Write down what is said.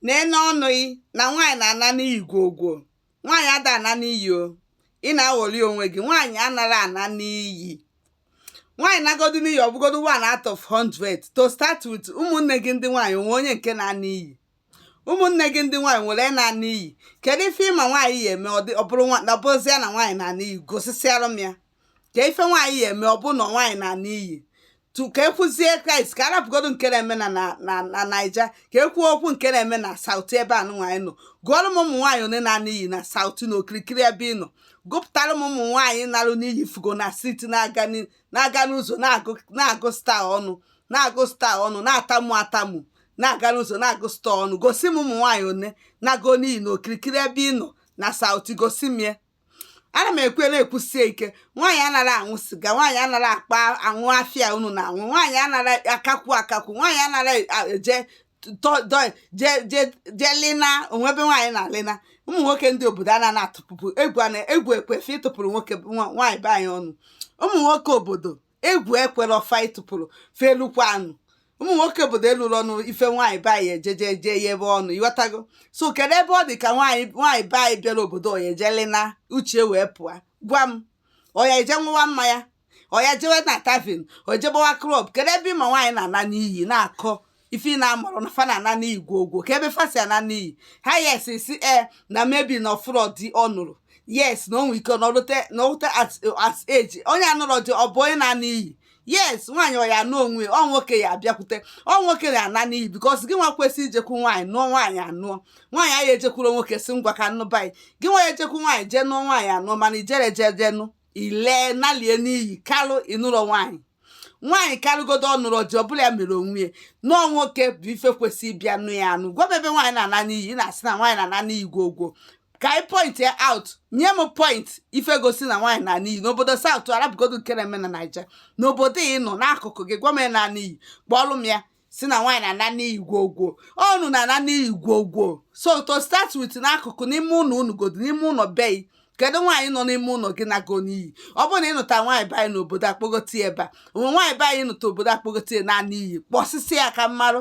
nene ọnụ gị na nwaanyị na-ana n'iyi gwogwo nwaanyị ada ana n'iyi o ị na-aghọli onwe gị nwaanyị anara ana n'iyi nwaanyị nagodu n'iyi ọ bụgodu one out of 100 to start with ụmụnne gị ndị nwaanyị o nwe onye nke na-ana iyi ụmụnne gị ndị nwaanyị nwere na-ana iyi kedu ife ị ma nwaanyị ya-eme ọ bụrụzie na nwaanyị na-ana iyi gosisịara m ya kee ife nwaanyị ya-eme ọ bụ na nwaanyị na-ana n'iyi tu ka e kwuzie kraịst ka a rapụgodu nke na-eme na na- na na naija ka e kwuo okwu nke na-eme na south ebe anụnwa anyị nọ gụọrọ m ụmụ nwaanyị ole na-ana n'iyi na south na okirikiri ebe ị nọ gụpụtara m ụmụ nwaanyị narụ n'iyi fụgo na street na-aga ni- na-aga n'ụzọ na-agụ na-agụ staa ọnụ na-agụ staa ọnụ na-atamu atamu na-aga n'ụzọ na-agụ staa ọnụ gosi m ụmụ nwaanyị ole nago n'iyi na okirikiri ebe ị nọ na south gosi m ya ana m ekwu na-ekwusie ike nwaanyị anara aṅụ siga nwaanyị anara akpa aṅụ afịa unu na-aṅụ nwaanyị anara akakwu akakwu nwaanyị anara eje je lina o nwe ebe nwaanyị na-alina ụmụ nwoke ndị obodo a na-atụpụpụ egwu egwu ekwe fa ịtụpụrụ nwoke nwaanyị be anyị ọnụ ụmụ nwoke obodo egwu ekwerọ fa ịtụpụrụ felukwa anụ ụmụ nwoke obodo elurọ ọnụ ife nwaanyị be anyị ejeje jee ya ebe ọ nọ ị ghọtago so kedu ebe ọ dị ka nwaanyị nwaanyị be anyị bịara obodo ọ ya-eje lina uche wee pụọ gwa m ọ ya-eje ṅụwa mmanya ọ ya ejewe na tavern o jee gbawa club kedu ebe ị ma nwaanyị na-ana n'iyi na-akọ ife ị na-amarọ na fa na-ana n'iyi gwogwo kee ebe fa si ana n'iyi ha yes sị na maybe na ọ fụrọ di ọ nụrụ yes na o nwe ike na o lute na o lute at at age onye anụrọ di ọ bụ onye na-ana iyi yes nwaanyị ọ ya-anụ onwe ọ nwoke ya-abịakwute ọ nwoke ya-ana n'iyi because gị nwa kwesị ijekwu nwaanyị nụọ nwaanyị anụọ nwaanyị anyị ejekwuru nwoke sị ngwa ka m nụba gị gị nwa ya-ejekwu nwaanyị jee nụọ nwaanyị anụọ mana i jerọ jee jee nụ ị lee nalie n'iyi kalụ ị nụrọ nwaanyị nwaanyị karịgodu ọ nụrọ di ọ bụrọ ya mere onwe ya na ọ nwoke bụ ife kwesị ịbịa nụ ya anụ gwa m ebe nwaanyị na-ana n'iyi na-asị na nwaanyị na-ana n'iyi gwogwo ka anyị point ya out nye m point ife gosi na nwaanyị na-ana n'iyi n'obodo south a rapụgodu nke na-eme na naija n'obodo ị nọ n'akụkụ gị gwa m ya na n'iyi kpọọlụ m ya sị na nwaanyị na-ana n'iyi gwogwo ọ unu na-ana n'iyi gwogwo so to start with n'akụkụ n'ime ụlọ unu godu n'ime ụlọ be gị kedu nwaanyị nọ n'ime ụlọ gị nago n'iyi ọ bụrụ na ị nụta nwaanyị be anyị n'obodo a kpọgote ebe a o nwe nwaanyị be anyị nụta obodo a kpọgote nara n'iyi kpọsịsị ya ka m marụ